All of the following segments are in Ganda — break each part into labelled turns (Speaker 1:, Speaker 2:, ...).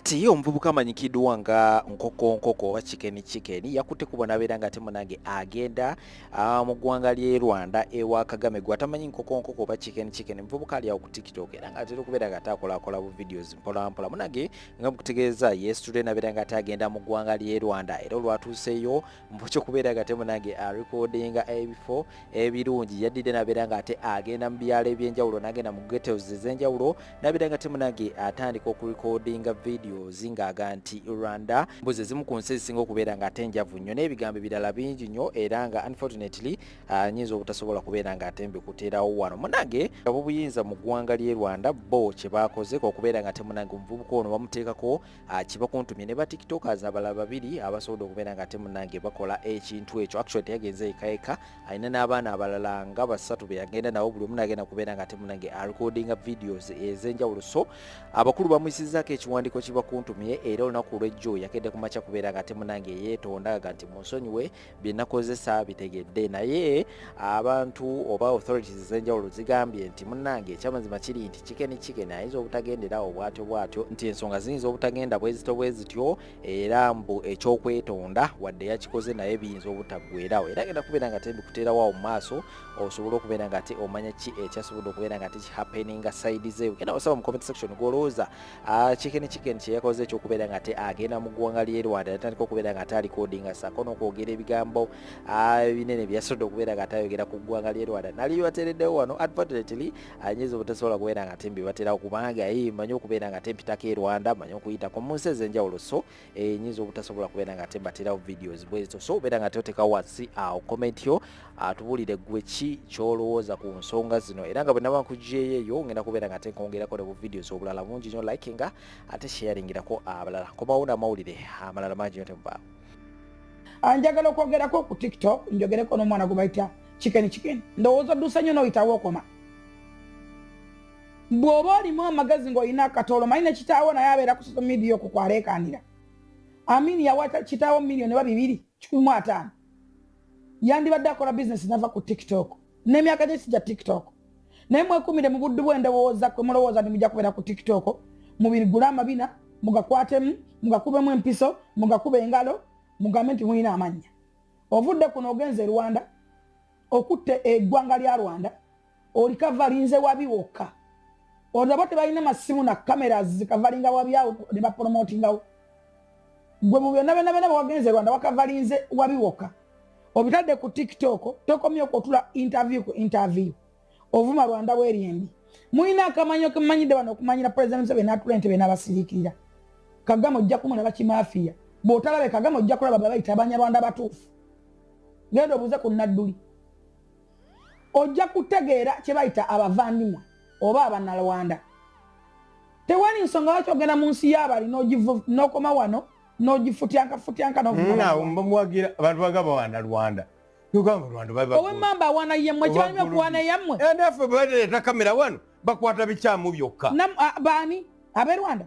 Speaker 1: kati ye omuvubuka amanyikiddwa nga nkoko nkoko oba chicken chicken yakutte kubo nabeera nga ate munange agenda ah, mu ggwanga ly'e rwanda ewa kagame gwe atamanyi nkoko nkoko oba chicken chicken muvubuka ali awo ku tiktok era nga atera okubeera nga ataakolakola bu videos mpolampola munange nga mukutegeeza yesterday nabeera nga atagenda mu ggwanga ly'e rwanda era olwatuuseeyo mukyo kubeera nga temunange arekodinga ebifo ebirungi yaddidde nabeera nga ate agenda mu byalo ebyenjawulo nagenda mu getos ez'enjawulo nabeera nga temunange atandika okurekodinga videos ng'aga nti rwanda mbuzi ezimu ku nsi ezisinga okubeera nga ate njavu nnyo n'ebigambo ebirala bingi nnyo era nga unfortunately ah, nyinza obutasobola kubeera nga ate mbikuterawo wano munange abobuyinza mu ggwanga ly'e rwanda bo kye baakoze okubeera nga temunange omuvubuka ono bamuteekako ah, kibakuntumye ne batiktokers abalala babiri abasobodde okubeera nga temunange bakola ekintu ekyo actually teyagenze ekaeka alina n'abaana abalala nga basatu be yagenda nabo buli omu nagenda kubeera nga temunange arecordinga videos ez'enjawulo so abakulu bamuyisizaako ekiwandiiko kibakuntumye era olunaku olw'ejjo yakedde ku makya kubeera nga temunange yeetondaga nti munsonyiwe byenakozesa bitegedde naye abantu oba authorities ezenjawulo zigambye nti munange ekyamazima kiri nti chicken chicken ayinza obutagenderawo bwatyo bwatyo nti ensonga ziyinza obutagenda bwezito bwezityo era mbu ekyokwetonda wadde yakikoze naye biyinza obutaggwerawo era genda kubeera nga tebikuteerawawo mu maaso osobola okubeera nga ate omanya ki ekyasobodde okubeera nga tekihappeninga side ze ugenda wasaba mu comment section gwolowooza Ah, chicken chicken kyeyakoze ekyokubeera nga agenda mu ggwanga ly'e rwanda natandika okubeera nga ate alikodinga saako n'okwogera ebigambo ah, ebinene byeyasodde okubeera nga ate ayogera ku ggwanga ly'e rwanda nali bateereddewo wano advertently anyinza ah, obutasobola kubeera nga ate mbibaterawo kubanga ye manyi okubeera nga ate mpitako e rwanda manyi okuyitako mu nsi ez'enjawulo so enyinza obutasobola kubeera nga ate baterawo videos bwezo so obeera nga teoteka wansi awo comment yo atubuulire gwe ki kyolowooza ku nsonga zino era nga bwenaba nkujeeyeyo ngenda kubeera nga tenkongerako ne bu videos obulala bungi nyo like nga ate sharingirako abalala komawo namawulire amalala mangi nyo temubaawo
Speaker 2: anjagala okwogerako ku tiktok njogereko n'omwana gwe bayita chicken chicken ndowooza oddusa nnyo n'oyitawo okoma bw'oba olimu amagezi ng'olina akatolo manyi ne kitaawo naye abeera ku social media okwo kwaleekaanira amini yawata kitaawo miliyoni oba bibiri kikumu ataano yandibadde akola bizinesi nava ku tiktok n'emyaka gye sija tiktok naye mwekumire mu buddu bw'endowooza kwe mulowooza nti mujja kubeera ku tiktok mubigule amabina mugakwatemu mugakubemu empiso mugakuba engalo mugambe nti mulina amannya ovudde kuno ogenze e rwanda okutta eggwanga lya rwanda oli kavalinze wabi wokka olaba tebalina masimu na kamera zikavalinga wabi awo ne bapolomotingawo gwe mu byonna byonna byonna bwewagenze rwanda wakavalinze wabi wokka obitadde ku tiktok tokomye okwotula interview ku interview ovuma rwanda bweryendi mulina akamanyo kemumanyidde bano okumanyira president museveni natula entebe n'abasirikirira kagama ojja kumulaba kimafiya bwotalabe kagama ojja kulaba babayita abanyarwanda batuufu genda obuuze ku nadduli ojja kutegeera kye bayita abavandimwe oba abanalwanda tewali nsonga lwaki ogenda mu nsi y'abali n'okoma wano n'ogifutyankafutyanka nomuwagira
Speaker 3: mm, abantu bagaba wana rwanda owemamba awana yemmwe
Speaker 2: kibalimi okuwana yammwe eh, naffe bwereeta
Speaker 3: kamera wano bakwata bikyamu byokka ah, baani
Speaker 2: ab'e rwanda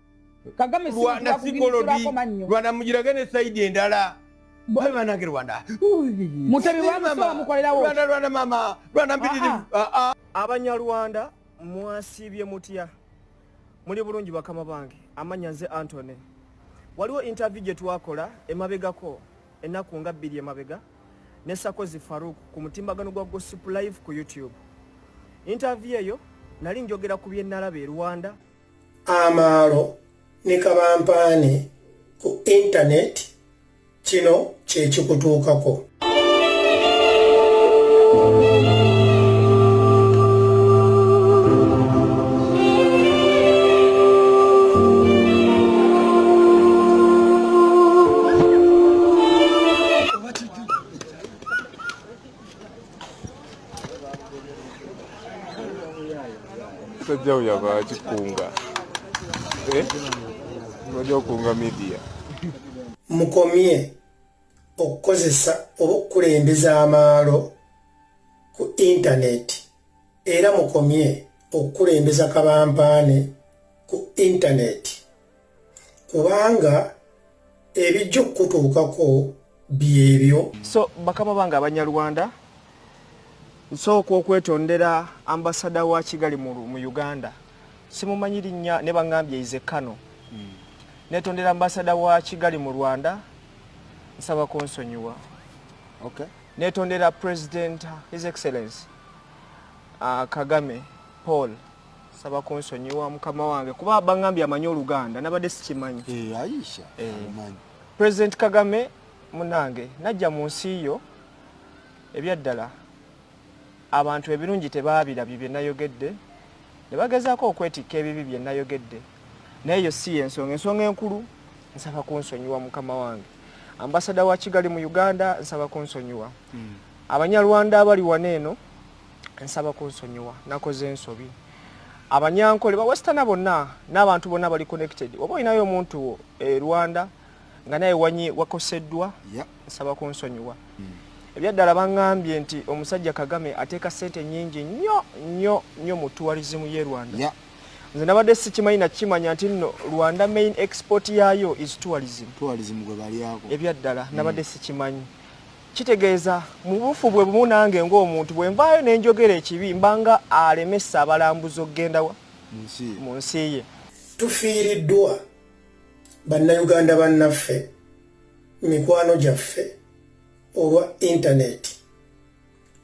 Speaker 2: rwanda sikolodi
Speaker 3: rwanda mugirage ne saidi endala banange rwanda
Speaker 2: rwanda rwanda mama
Speaker 3: rwanda mpitirivu ah, ah. Ah, abanyarwanda
Speaker 4: mwasiibye mutya muli bulungi bakama bange amanya nze antony waliwo interview gye twakola emabegako ennaku nga bbiri emabega ne sakozi faruk ku mutimbagano gwa gossip live ku youtube interview eyo nali njogera ku byenalaba e rwanda amaalo
Speaker 5: ne kabampaane ku intaneti kino kye kikutuukako
Speaker 6: sajja uyaba kikunga eh? oja okunga media mukomye okukozesa oba okukulembeza amaalo
Speaker 5: ku intaneti era mukomye okukulembeza kabampaane ku intaneti kubanga ebijja okukutuukako byebyo so bakama
Speaker 4: bange abanyarwanda nsooka okwetondera ambasada wa kigali mu uganda simumanyi linnya ne baŋambye ize kano hmm. netondera ambasada wa kigali mu rwanda nsaba kunsonyiwa okay.
Speaker 1: netondera
Speaker 4: president his excellence uh, kagame paul saba kunsonyiwa mukama wange kuba bangambye amanyi oluganda nabadde sikimanyi eh, aisha eh.
Speaker 3: amanyi president kagame
Speaker 4: munange najja mu nsi yo ebyaddala abantu ebirungi tebaabirabye bye nayogedde ne bagezaako okwetikka ebibi bye nayogedde naye yo si yensonga ensonga enkulu nsaba kunsonyiwa mukama wange ambasada wa kigali mu uganda nsaba kunsonyiwa hmm. abanyarwanda abali wano eno nsaba kunsonyiwa nakoze ensobi abanyankole bawestana bonna n'abantu bonna bali connected oba olinayo omuntu wo e rwanda nga naye wanyi wakoseddwa nsaba kunsonyiwa hmm. ebyaddala baŋŋambye nti omusajja kagame ateeka ssente nyingi nnyo nnyo nnyo mu tuwalizimu ye rwanda nze nabadde sikimanyi nakimanya nti nno rwanda main export yaayo is tourism
Speaker 3: ebyaddala hmm. nabadde
Speaker 4: sikimanyi Kitegeeza mu bufu bwe bumu nange ng'omuntu bwe nvaayo ne njogera ekibi mbanga alemesa abalambuzi okugenda wa mu nsi ye. Tufiiriddwa
Speaker 5: Bannayuganda bannaffe, mikwano gyaffe olwa intaneeti.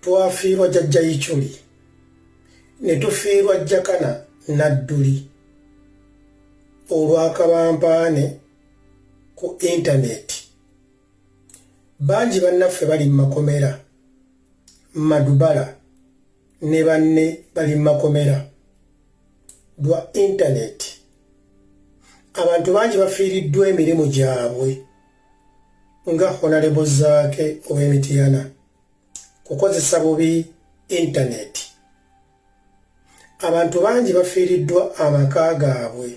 Speaker 5: Twafiirwa Jajja Ichuli ne tufiirwa Jakana Nadduli olw'akabampaane ku intaneeti. bangi bannaffe bali mu makomera madubala ne banne bali mu makomera lwa intaneti abantu bangi bafiiriddwa emirimu gyabwe nga honalebo zaake ow'emitiyana kukozesa bubi intaneti abantu bangi bafiiriddwa amaka gaabwe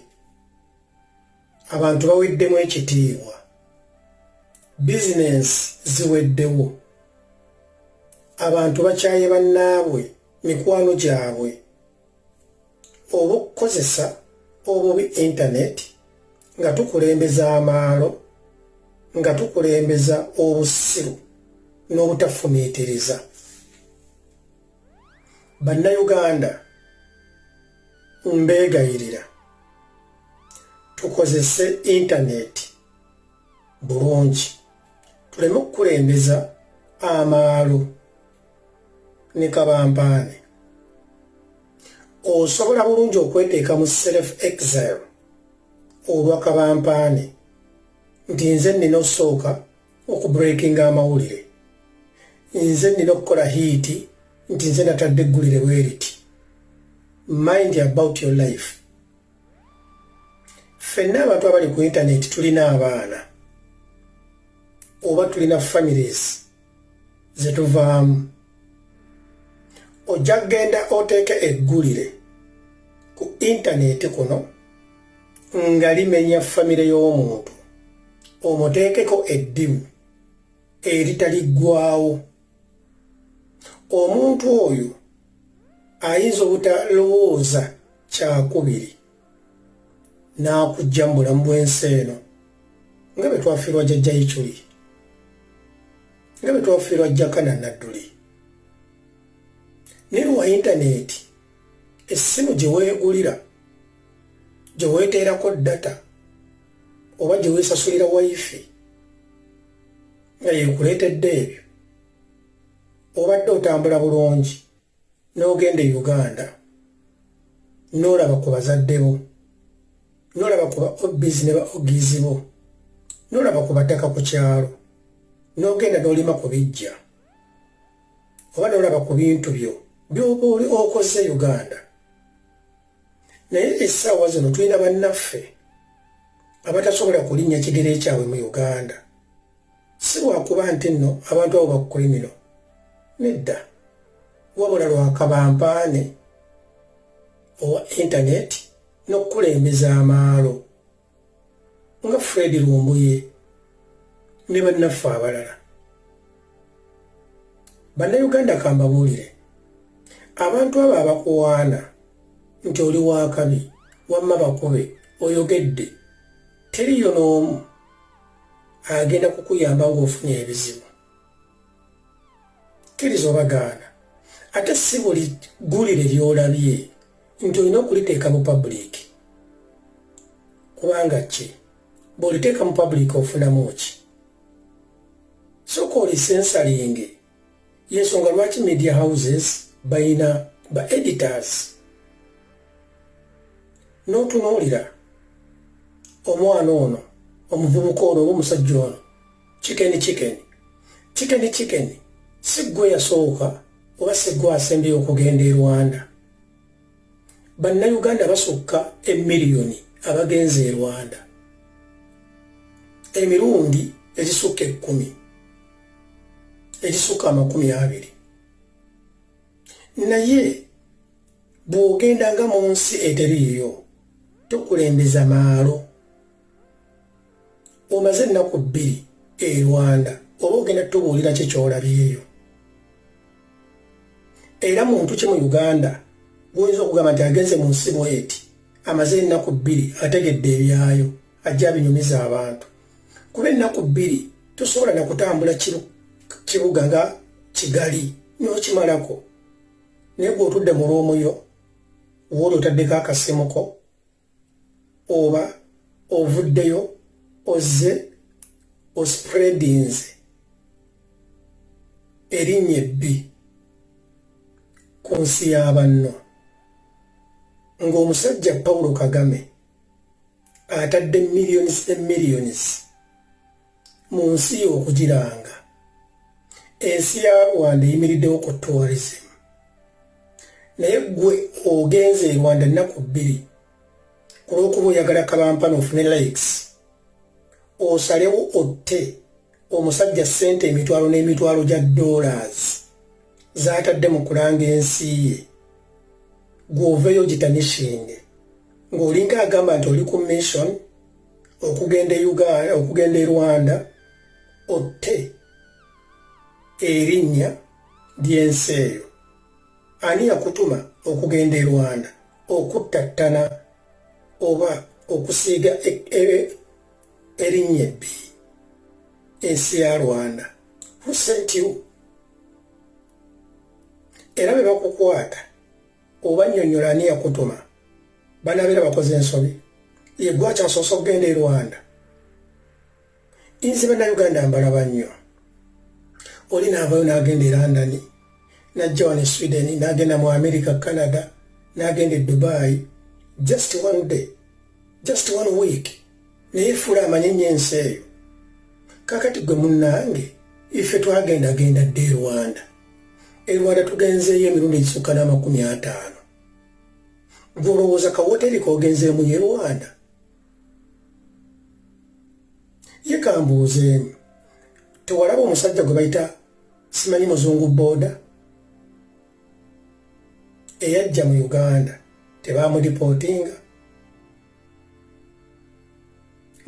Speaker 5: abantu baweddemu ekitiibwa bizinensi ziweddewo abantu bakyaye bannaabwe mikwano gyabwe obukukozesa obubi intaneti nga tukulembeza amaalo nga tukulembeza obusiru n'obutafumiitiriza bannayuganda mbeegayirira tukozese intaneti bulungi tuleme okukulembeza amaalo ne kabampaane osobola bulungi okweteeka mu self exile olwa kabampaane nti nze nnina osooka okubreakinga amawulire nze nnina okukola hiiti nti nze natadde eggulire bweriti mind about your life ffenna abantu abali ku intaneti tulina abaana oba tulina families zetuvaamu ojja kugenda oteeka eggulire ku intaneti kuno nga limenya famire y'omuntu omuteekeko eddimu eritaliggwawo omuntu oyo ayinza obutalowooza kyakubiri n'akujja mu bulamu bw'ensi eno nga bwe twafiirwa jajja yiculi nga bwe twafiirwa jakana nadduli ne lwa yintaneeti essimu gye weegulira gye weeteerako data oba gye weesasulira wifi nga yekuleetedde ebyo obadde otambula bulungi n'ogenda e uganda n'olaba ku bazadde bo n'olaba ku ba obis ne ba ogizi bo n'olaba ku bataka ku kyalo n'ogenda n'olima ku bijja oba n'olaba ku bintu byo byoba oli okoze uganda naye essaawa zino tulina bannaffe abatasobola kulinnya kigere kyabwe mu uganda si lwakuba nti nno abantu abo bakukulimiro nedda wabula lwakabampaane owa intaneti n'okukulembeza amaalo nga fred lumbuye ne bannaffe abalala bannayuganda kambabuulire abantu abo abakuwaana nti oli wakabi wamma bakube oyogedde teriyo n'omu agenda kukuyamba ng'ofunye ebizibu kkiriza obagaana ate si buli ggulire ly'olabye nti olina okuliteeka mu pabuliiki kubanga ki bw'oliteeka mu pabuliiki ofunamu ki soka olisensalinge yensonga lwaki media houses bayina ba editors notunuulira omwana ono omuvubuka ono oba omusajja ono kikeni kikeni kikeni kikeni siggwe yasooka oba siggwe asembeyo okugenda e rwanda bannayuganda basukka emiliyoni abagenze e rwanda emirundi egisukka ekkumi egisukka amakumi abiri naye bw'ogendanga mu nsi eteriiyo tokulembeza maalo omaze ennaku bbiri e rwanda oba ogenda tubuulira ki kyolabyeyo era muntu ki mu uganda guyinza okugamba nti agenze mu nsi bweti amaze ennaku bbiri ategedde ebyayo ajja abinyumiza abantu kuba ennaku bbiri tosobola nakutambula kibuga nga kigali nokimalako naye gweotudde mu lwomuyo wooli otaddeko akasimuko oba ovuddeyo ozze ospreadinze erinnya ebbi ku nsi y'abanno ng'omusajja pawulo kagame atadde millions and millions mu nsi okugiranga ensi ya rwanda eyimiriddewo ku tourism naye gwe ogenze e rwanda ennaku bbiri ku lw'okuba oyagala kabampana ofune likes osalewo otte omusajja ssente emitwalo n'emitwalo gya dollars zaatadde mu kulanga ensi ye gwoveyo gitanishinge ng'olinga agamba nti oli ku mission okugenda e uganda okugenda e rwanda otte erinnya ly'ensi eyo ani yakutuma okugenda e rwanda okuttattana oba okusiiga e, e, erinnya ebbi ensi ya rwanda husentiwo era bwe bakukwata oba nyonyola ani yakutuma banabeera bakoze ensobi yegwe akyasoose okugenda e rwanda inze bannayuganda mbalaba nnyo oli naavayo n'agenda e london najja wano e sweden n'agenda mu america canada n'agenda e dubai just one day just one week naye efuula amanye nnyo ensi eyo kakati gwe munnange ife twagendagenda dde e rwanda e rwanda tugenzeeyo emirundi egisukka n'amakumi ataano gwolowooza kawoteri kogenzeemu ye rwanda ye kambuuzeemu tewalaba omusajja gwe bayita simanyi muzungu booda eyajja mu uganda tebamulipootinga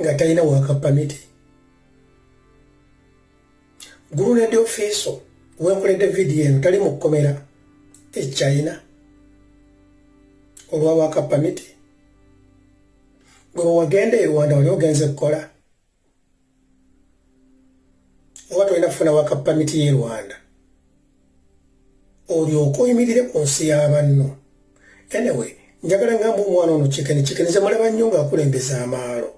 Speaker 5: nga talina wakapamiti gulunedi ofiiso wenkoledde vidiyo eno tali mu kkomera e china olwa waka pamiti gwe wewagenda e rwanda wali ogenze kukola oba tolina kufuna waka pamiti ye rwanda olyoka oyimirire ku nsi y'abanno anyway njagala ngamba omwana ono kikeni kikeni zemulaba nnyo ng'akulembeza amaalo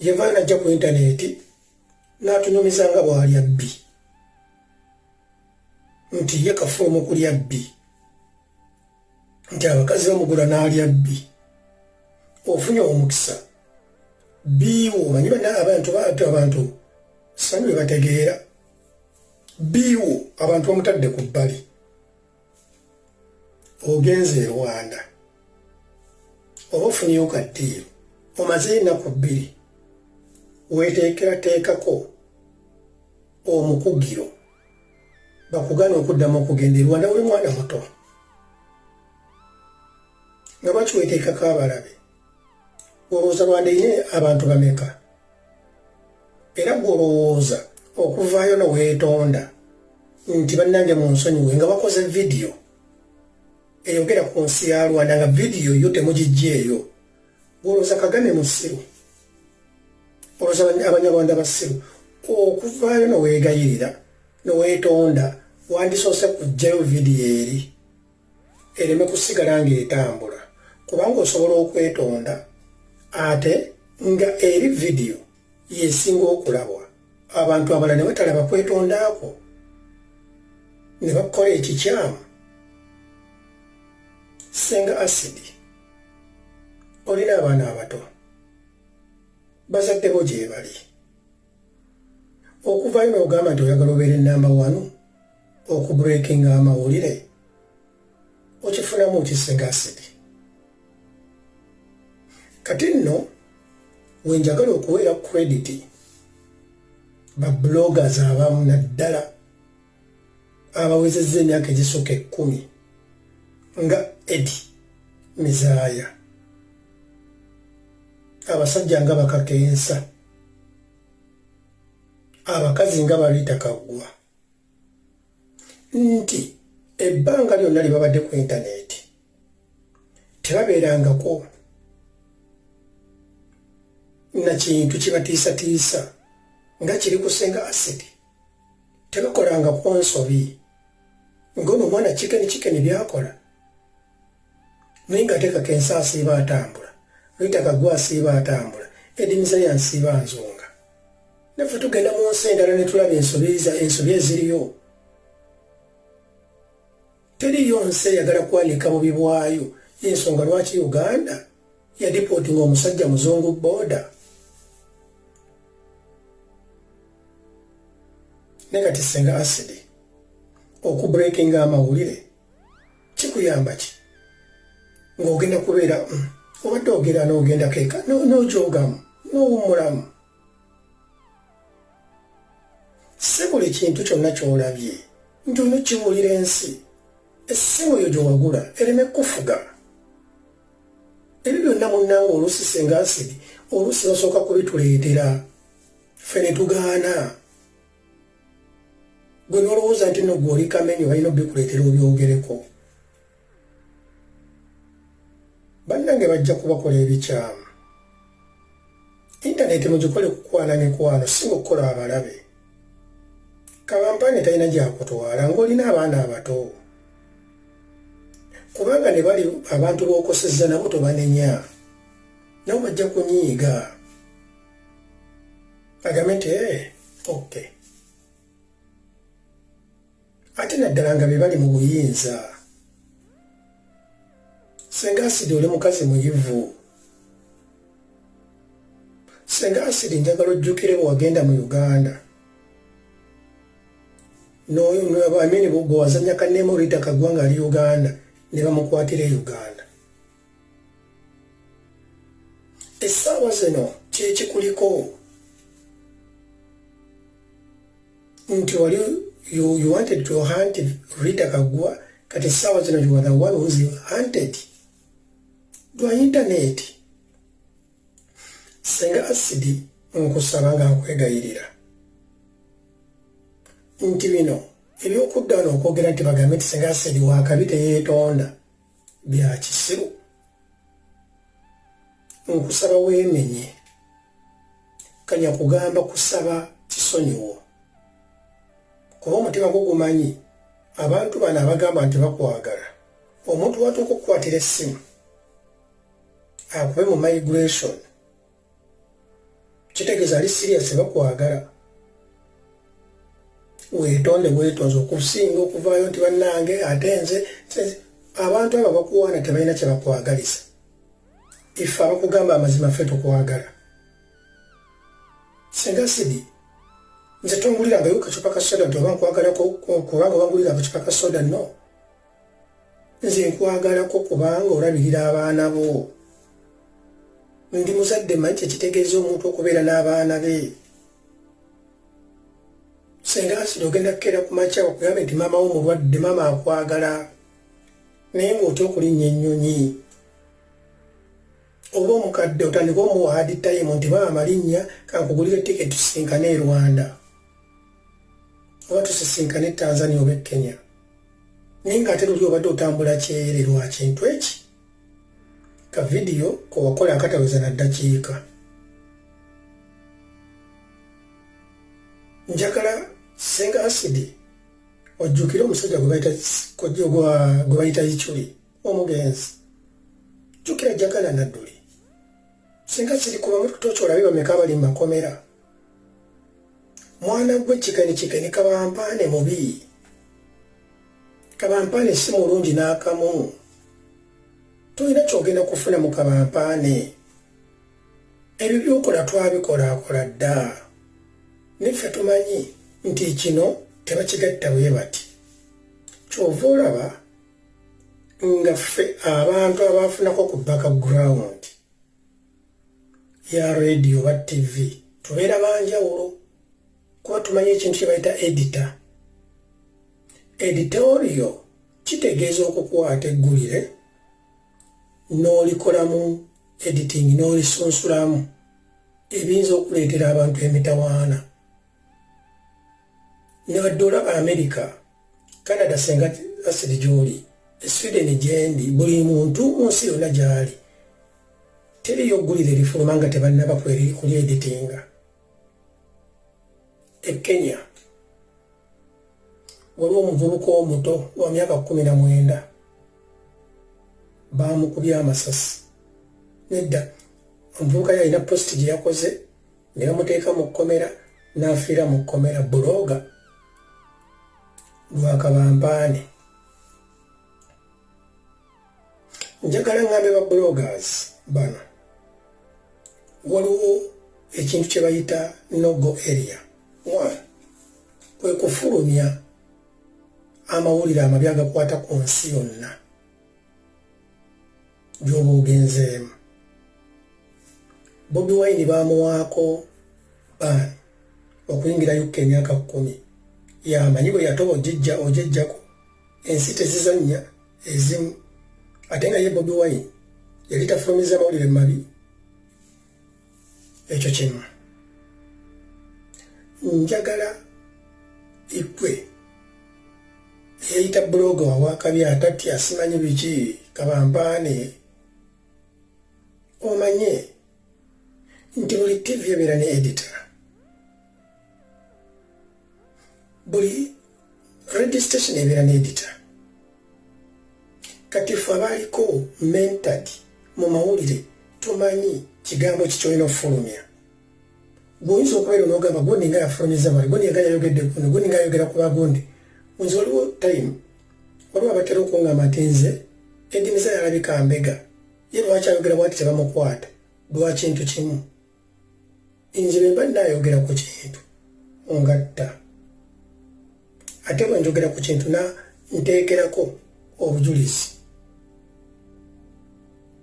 Speaker 5: yevaana ajja ku intaneti n'atunyumiza nga bw'alya bbi nti ye kafuula mu kulya bbi nti abakazi bamugula n'alya bbi ofunye omukisa biiwo omanyi bana abantu baatu abantu sanyu bebategeera biiwo abantu bamutadde ku bbali ogenze e rwanda oba ofunyeyo ka ddiiro omaze ennaku bbiri weteekerateekako omukugiro bakugana okuddamu okugenda e rwanda oli mwana muto nga bakiweteekako abalabe olowooza rwanda ine abantu bameka era gwe olowooza okuvaayo noweetonda nti bannange mu nsonyiwe nga bakoze vidiyo eyogera ku nsi ya rwanda nga vidiyo yo temugijja eyo olowooza kagame musiru olowooza abanyarwanda basiru okuvaayo noweegayirira noweetonda wandisoose kujjayo vidiyo eri ereme kusigala ng'etambula kubanga osobola okwetonda ate nga eri vidiyo yesinga okulabwa abantu abala ne batalaba kwetondaakwo ne bakukola ekikyamu senga asidi olina abaana abato bazadde bo gyebali okuvayo n'ogamba nti oyagala obeera enamba wanu okubreakinga amawulire okifunamu kisegasidi kati nno wenjagala okuweera krediti babloggers abamu naddala abawezezza emyaka egisooka ekkumi nga edi mizaaya abasajja nga bakakensa abakazi nga baliita kaggwa nti ebbanga lyonna lye babadde ku intaneeti tebabeerangako na kintu kibatiisatiisa nga kiri kusinga asidi tebakolanga ku nsobi ng'ono omwana kikeni kikeni byakola naye nga ateekako ensi asiiba atambula luyitaka gwa asiiba atambula edimiza yansiiba nzunga naffe tugenda mu nsi endala ne tulaba ensobi eziriyo teriyo nsi eyagala kwanika bubi bwayo yensonga lwaki uganda yadipooti nga omusajja muzungu booda ne kati senga asidi okubrekinga amawulire kikuyamba ki ng'ogenda kubeera mm, obadde ogera n'ogenda keeka n'ojogamu n'owummulamu si buli kintu kyonna ky'olabye nti ono kibuulira ensi essimu yo gyewagula ereme kufuga ebyo byonna munnange oluusi senga nsidi oluusi basooka kubituleetera ffe ne tugaana gwe nolowooza nti no gwoli kamenyo balina obikuleetera obyogereko bannange bajja kubakola ebikyamu intaneti mugikole kukwana mikwano si mukukola abalabe kabampane talina gyakutwala ngaolina abaana abato kubanga ne bali abantu bokoseza nabo tobanenya nabo bajja kunyiiga agame nti ee eh, ok ate naddala nga bebali mu buyinza senga asidi oli mukazi muyivu senga asidi njagala ojjukire bwe wagenda mu uganda noamini bwewazanya kanema olita kagwa nga ali uganda ne bamukwatira e uganda essaawa zino kyekikuliko nti wali you, you wanted to hunt Rita Kagwa kati sawa zino you are the one who's hunted dwa internet senga asidi nkusaba nga nkwegayirira nti bino ebyokudda wano okwogera nti bagambe nti senga asidi wakabi teyeetonda bya kisiru nkusaba weemenye kanya kugamba kusaba kisonyiwo kuba omutima gwo gumanyi abantu bano abagamba nti bakwagala omuntu watuuka okukwatira essimu akube mu migration kitegeeza ali siriyasi bakwagala weetonde weetonze okusinga okuvaayo nti bannange ate nze abantu abo bakuwaana tebalina kye bakwagaliza ife abakugamba amazima ffe tukwagala singa sidi nze tonguliranga yo kacupa ka soda nti oba nkwagalako kubanga obangulira akacupa ka soda no nze nkwagalako kubanga olabirira abaana bo ndi muzadde manyi kyekitegeeza omuntu okubeera n'abaana be senga asiri ogenda kukeera ku makya okugambe nti maama wo mulwadde maama akwagala naye ngaotya okulinnya ennyonyi oba omukadde otandika omuwa hadi tayimu nti maama linnya kankugulira etiketi tusinkane e rwanda oba tusisinkane e tanzania oba e kenya naye nga ate luli obadde otambula kyeyere lwakintu eki ka vidiyo kowakola akataweza na ddakiika njagala senga asidi ojjukire omusajja gwebayita ichuli omugenzi jjukira jagala nadduli singa kiri kuba mututoki olabe bameka abali mu makomera mwana gwe kikani kikani kabampaane mubi kabampaane si mulungi n'akamu tolina kyogenda kufuna mu kabampaane ebyo byokola twabikolaakola dda niffe tumanyi nti kino tebakigatta bwe bati kyova olaba nga ffe abantu abaafunako ku background ya radio oba tv tubeera banjawulo kuba tumanyi ekintu kye bayita edita editorio kitegeeza okukwata eggulire n'olikolamu editing n'olisunsulamu ebiyinza okuleetera abantu emitawaana ne badde olaba amerika canada senga asiri gyoli esweden gyendi buli muntu munsi yonna gyali teriyo oggulira erifuluma nga tebannaba kulyeditinga e kenya waliwo omuvubuka omuto wa myaka kumi na mwenda baamukubye amasasi nedda omuvubuka yalina positi gye yakoze ne bamuteeka mu kkomera n'afiira mu kkomera bulooga lwakabampaane njagala ngambe ba bloggers bano waliwo ekintu kye bayita nogo area one kwe kufulumya amawulire amabi agakwata ku nsi yonna gy'oba ogenzeemu bobi wayini baamuwaako baani okuyingira yukka emyaka kkumi yamanyi bwe yatoba ojijja ojejjako ensi tezizannya ezimu ate nga ye bobi wayini yali tafulumiza mawulire mabi ekyo kimu njagala ikwe eyayita buloga wawakabi atatya simanyi biki kabampaane omanye nti buli tivi ebeera ne edita buli registration ebeera n'edita kati fe abaaliko mentad mu mawulire tumanyi kigambo kikyolina okufulumya gwoyinza okubeera nogamba gundi nga yafulumiza mali gundi nga yayogedde gundi gundi nga yayogera ku bagundi nze waliwo time waliwo abatera okungamba nti nze edimiza yalabika mbega ye lwaki ayogera bwati tebamukwata lwakintu kimu nze bemba nayogera ku kintu ngatta ate bwe njogera ku kintu na nteekerako obujulizi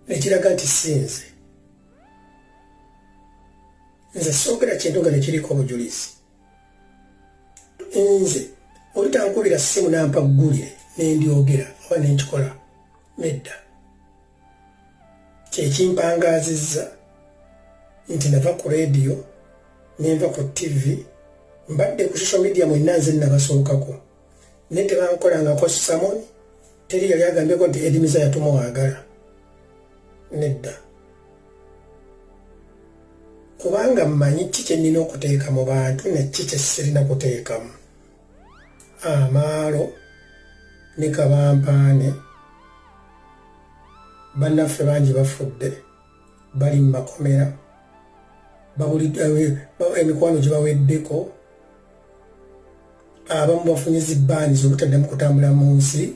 Speaker 5: nekiraga nti sinze nze soogera kintu nga nekiriko obujulizi nze olutankubira simu nampa ggulire nendyogera oba nenkikola nedda kyekimpangaazizza nti nava ku rediyo nenva ku tivi mbadde ku social media mwenna nze nabasookako naye tebankolangako samon teri yali agambyeko nti edimiza yatumwagala nedda kubanga mmanyi ki kye nnina okuteeka mu bantu nekki kye sirina kuteekamu amaalo ne kabampaane bannaffe bangi bafudde bali mu makomera emikwano gibaweddeko abamu bafunye zibaani zobutaddamu kutambula mu nsi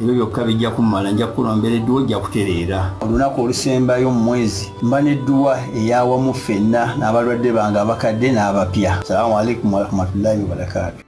Speaker 7: ebyo byokka bijja kumala nja kukulombera edduwa ojja kutereera olunaku olusembayo mu mwezi mba n'edduwa eyawamu ffenna n'abalwadde bange abakadde n'abapya salamu aleikum warahmatullahi wabarakaatu